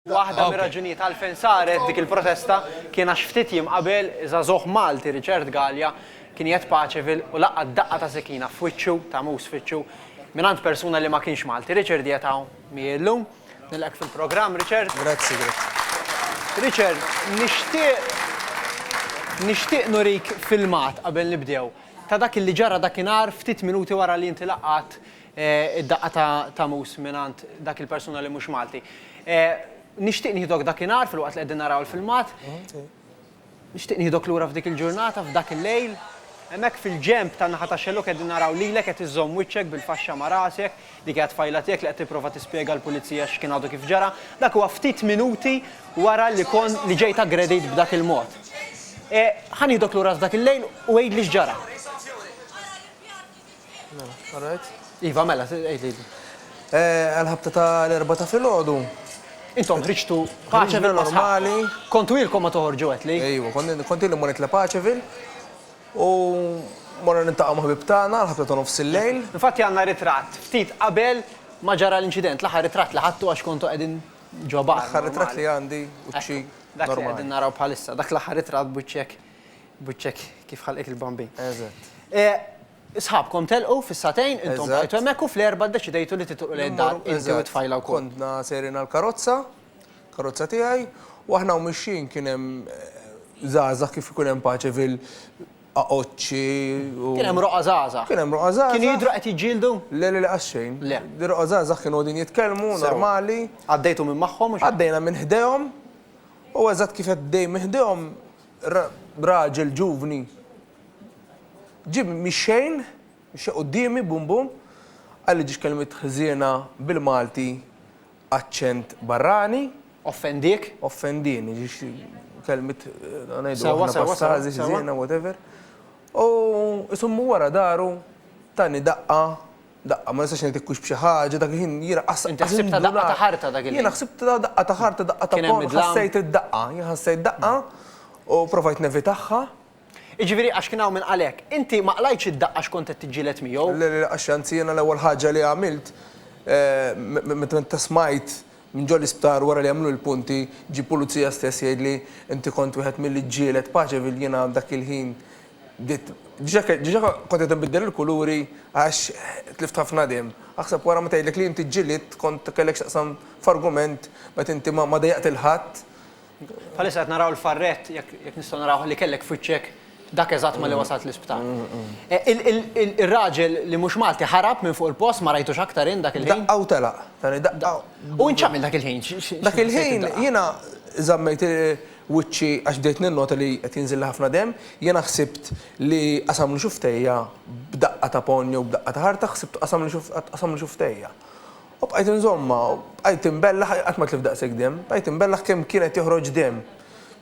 Waħda mir-raġunijiet għalfejn saret dik il-protesta kien għax ftit jiem qabel żagħżugħ Malti Richard Galea kien jgħidd paċevi u laqat daqqa ta' sikkina f'wiċċu, ta' mus f'wiċċu, mingħand persuna li ma kienx Malti. Richard qiegħed hawn miegħi illum. Nilqgħek fil-programm Richard. Grazzi, grazzi. Richard, nixtieq nixtieq nurik filmat qabel nibdew ta' dak li ġara dakinhar ftit minuti wara li inti laqat Id-daqqa ta' ta' mus mingħand dak il-persuna li mhux Malti. Nixtieq nieħdok dakinhar filwaqt li qegħdin naraw il-filmat. Nixtieq nieħdok lura f'dik il-ġurnata, f'dak il-lejl. Hemmhekk fil-ġenb tan-naħa tax-xellug qegħdin naraw lilek qed iżżomm wiċċek bil-faxxa ma' rasek, dik hija t-tfajla tiegħek li qed tipprova tispjega l-pulizija x'kien għadu kif ġara. Dak huwa ftit minuti wara li kon li ġejt aggredit b'dak il-mod. Ħa nieħdok lura f'dak il-lejl u għidli x'ġara. Mela, all right. Iva, mela, għid li. Għal-ħabta ta' l-erba ta' fil-ħodu. Intom ħriġtu paċevil normali. Kontu ilkom ma toħorġu għetli? Ejwa, kontu ilkom ma nitla paċevil. U morna nintaqqa maħbib tagħna l-ħabta ta' nofs il-lejl. Infatti għandna ritratt ftit qabel ma ġara l-inċident, l-aħħar ritratt li ħadtu għax kontu qegħdin ġo bar. L-aħħar ritratt li għandi u ċi. Dak li qegħdin naraw bħalissa, dak l-aħħar ritratt buċċek Buċċek kif ħalqek il-bambin. Eżatt. Sħabkom telqu fis-satejn, intom bqajtu hemmhekk u fl-erbgħa ddeċidejtu li titolqu lejn id-dar inti u t-tfajla wkoll. Kontna sejrin għall-karozza, karozza tiegħi, u aħna u mixjin kien hemm żgħażagħ kif ikun hemm paċi fil- aqoċċi u. Kien hemm roqgħa żgħażagħ. Kien hemm roqgħa żgħażagħ. Kienu jidhru qed jiġġieldu? Le, le, le qatt xejn. Le. Roqgħa żgħażagħ kienu qegħdin jitkellmu normali. Għaddejtu minn magħhom u xi. Għaddejna minn ħdejhom u eżatt kif qed dej minn ħdejhom raġel ġuvni ġieb mix-xejn, mixew quddiemi bum bum, qalli ġiex kelmiet ħżiena bil-Malti aċċent barrani. Offendiek? Offendieni, ġiex kelmiet ngħidu aħna pastażi, ħżiena, whatever. U isommu wara dahru tani daqqa Daqqa, ma nistax ngħidlek hux b'xi ħaġa, dak il-ħin jiena qas. Inti ħsibtha daqqa ta' ħarta dak il-ħin. Jiena ħsibtha daqqa ta' ħarta, daqqa ta' ponn, ħassejt id-daqqa. Jien ħassejt daqqa u provajt nevitagħha. Jiġifieri għax kien hawn min qal hekk. Inti ma qlajtx id-daqqa għax kont qed tiġġieled miegħu? Le, le, għax anzi jiena l-ewwel ħaġa li għamilt meta smajt minn ġol-isptar wara li għamlu l-punti, ġie pulizija stess jgħidli, inti kont wieħed milli ġġieled Paceville, jiena dak il-ħin Bdiet, diġa diġa kont qed inbiddel il-kuluri għax tlift ħafna demm. Aħseb wara ma tgħidlek li inti ġġilidt kont kellek x'taqsam f'argument meta inti ma ma dejjaqt lil ħadd. Bħalissa qed naraw l-farrett, jekk jekk nistgħu narawh, li kellek f'wiċċek dak eżatt malli wasalt l-isptar. Il il il ir-raġel li mhux Malti ħarab minn fuq il-post, ma rajtux aktar int dak il-ħin? Daqqa u telaq. Tani daqqa. U int x'għamilt dak il-ħin? Dak il-ħin jiena żammejt wiċċi għax bdejt ninnota li qed jinżilli ħafna demm, jiena ħsibt li qasamlu xuftejja b'daqqa ta' ponn jew b'daqqa ta' ħarta, ħsibt qasamli tqasamli xuftejja. U bqajt inżommha, bqajt inbellaħ, qatt ma tlift daqshekk demm, bqajt inbellaħ kemm kien qed joħroġ demm.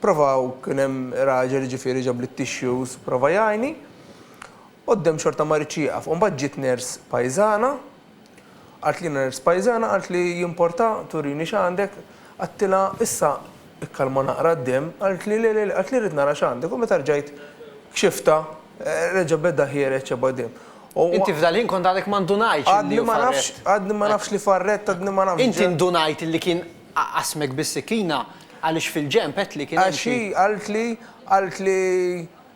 Provaw, kien hemm raġel jiġifieri ġabli t-tissues, prova jgħinni. Quddiem xorta ma ridx jieqaf u mbagħad ġiet nurse pajżana qaltlina nurse pajżana qaltli jimporta turini x'għandek għadtilha issa ikkalma naqra d-demm qaltli le le le qaltli rrid nara x'għandek u meta rġajt kxiftha reġa' beda ħiereġ ebgħad demm u Inti f'dal ħin kont għadek ma ndunajtx illi hu farrett. Għadni ma nafx li farrett għadni ma nafx. Inti ndunajt illi kien qassmek bis-sikkina għaliex fil-ġenb għedtli kien hemm xi Għax hi qaltli qaltli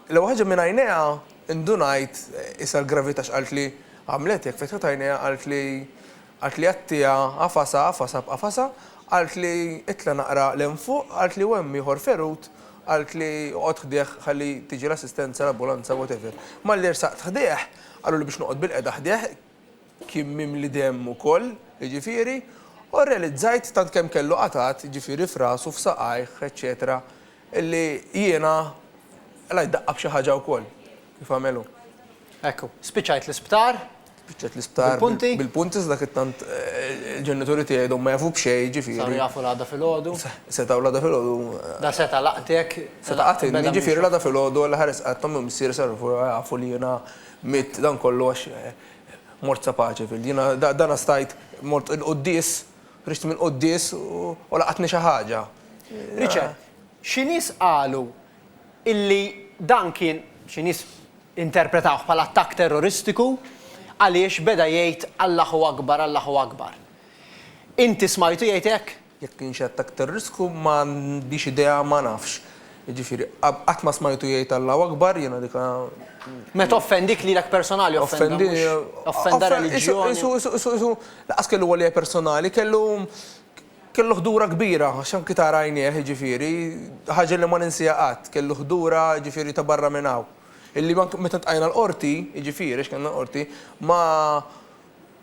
L-ewwel ħaġa minn għajnejha ndunajt issa l-gravità x'qaltli, għamlet hekk, fetħet għajnejha qaltli, qaltli għattiha, għafasha, għafasha b'qafasha, qaltli itla' naqra 'l hemm fuq, qaltli u hemm ieħor ferut, qaltli oqgħod ħdejh ħalli tiġi l-assistenza, l-ambulanza, whatever. Malli ersaqt ħdejh, qaluli biex noqgħod bil-qegħda ħdejh, Kien mimli demm ukoll, jiġifieri, u rrealizzajt tant kemm kellu qatgħat, jiġifieri f'rasu, f'saqajh, eċċetera, illi jiena qlajt daqqa b'xi ħaġa wkoll, kif għamel hu. Hekk hu. Spiċċajt l-isptar. Spiċċajt l-isptar. Bil-punti. Bil-punti iżda kif tant il-ġenituri tiegħi għadhom ma jafu b'xejn, jiġifieri. Saru jafu l-għada filgħodu. Setgħu l-għada filgħodu. Da seta' laqtek. Seta' qatilni, jiġifieri l-għada filgħodu, l-aħħar qed tgħid omm u missier saru jafu li jiena Għamilt dan kollu għax mort sa Pageville. Jiena dana stajt, mort il-quddies, ħriġt mill-quddies u laqatni xi ħaġa. Richard, xi nies qalu illi dan kien, xi nies interpretawh bħala attakk terroristiku għaliex beda jgħid Allahu Akbar, Allahu Akbar. Inti smajtu jgħid hekk? Jekk kienx qed aktar riskju ma għandix idea ma nafx. Jiġifieri qatt ma smajtu jgħid Allahu Akbar, jiena dik. Meta offendik lilek personali offenda mhux offenda reliġjon. Qisu qisu qisu lanqas kellu għalija personali, kellu kellu ħdura kbira għax anki tara għajnejh jiġifieri, ħaġa li ma ninsiha qatt, kellu ħdura jiġifieri ta' barra minn hawn. Illi anki meta ntqajna l-Qorti, jiġifieri għax kellna l-Qorti, ma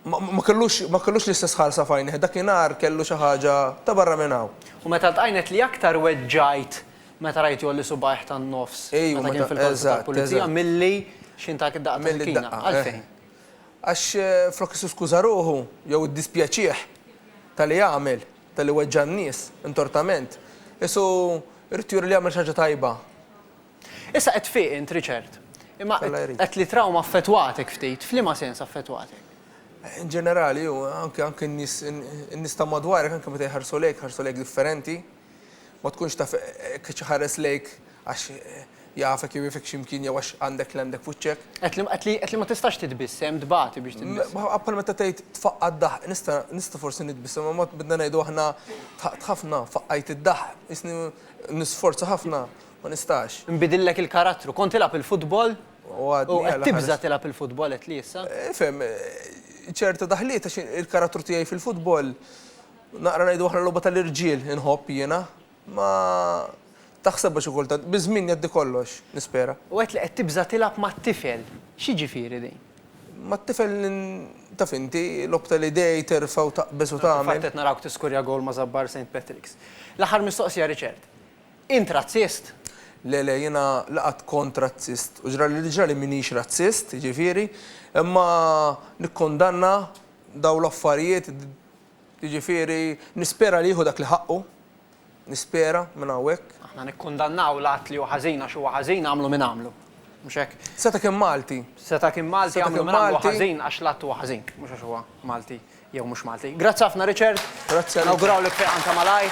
Ma kellux, ma kellux l-istess ħarsa f'għajnejh, dakinhar kellu xi ħaġa ta' barra minn hawn. U meta ltqajn għedt li aktar weġġajt meta rajt jgħolli subgħajh tan-nofs meta kien fil-korpi tal-pulizija milli xi ngħatak id-daqqa ta' sikkina. Għalfejn? Għax flok isu skuża ruħu jew iddispjaċih talli għamel, talli weġġa' n-nies intortament, isu jrid juri li għamel xi ħaġa tajba. Issa qed tfiq int, Richard. Imma qed li trawma affettwatek ftit, f'liema sens affettwatek? In ġenerali, u anke anke n-nies in-nies ta' madwarek anke meta jħarsu lejk, jħarsu lejk differenti. Ma tkunx taf hekk qed iħares lejk għax jafek jew jafek xi mkien jew għax għandek li għandek f'wiċċek. Qed li qed li qed li ma tistax titbissem, tbati biex titbissem. Ma bħal meta tgħid tfaqqa' d-daħq, nista' nista' forsi nitbissem imma bdna ngħidu aħna tħaqt ħafna, faqqajt id-daħq, jisni nisforza ħafna Ma nistax. Nbidillek il-karattru. Kont tilgħab il-futbol u qed tibża' tilgħab il-futbol qed li issa. Ifhem, ċerta daħliet għax il-karattru tiegħi fil-futbol naqra ngħidu aħna logħba tal-irġiel inħobb jiena. Ma taħsebha xi kultant. Biż-żmien jgħaddi kollox, nispera. U għedt li qed tibża' tilgħab mat-tifel. X'jiġifieri din? Mat-tifel taf inti, logħob tal-idej, terfa' u taqbeż u tagħmel. Fil-fatt qed narawk tiskurja gowl ma' Żabbar Saint Patrick's. L-aħħar mistoqsija Richard. Int razzist? Le, le, jiena la qatt kont razzist u ġrali li ġrali m'iniex razzist, jiġifieri, imma nikkundanna dawn l-affarijiet, jiġifieri, nispera li jieħu dak li ħaqqu, nispera, minn hawnhekk. Aħna nikkundannaw l-att li hu ħażin għax huwa ħażin, għamlu min għamlu. Mhux hekk? Seta' kien Malti. Seta' kien Malti, għamlu min għamlu ħażin għax l-att huwa ħażin, mhux għax huwa Malti. jew mhux Malti. Grazzi ħafna Richard. Grazzi a lilkom. Nawgurawlek fejqan ta' malajr.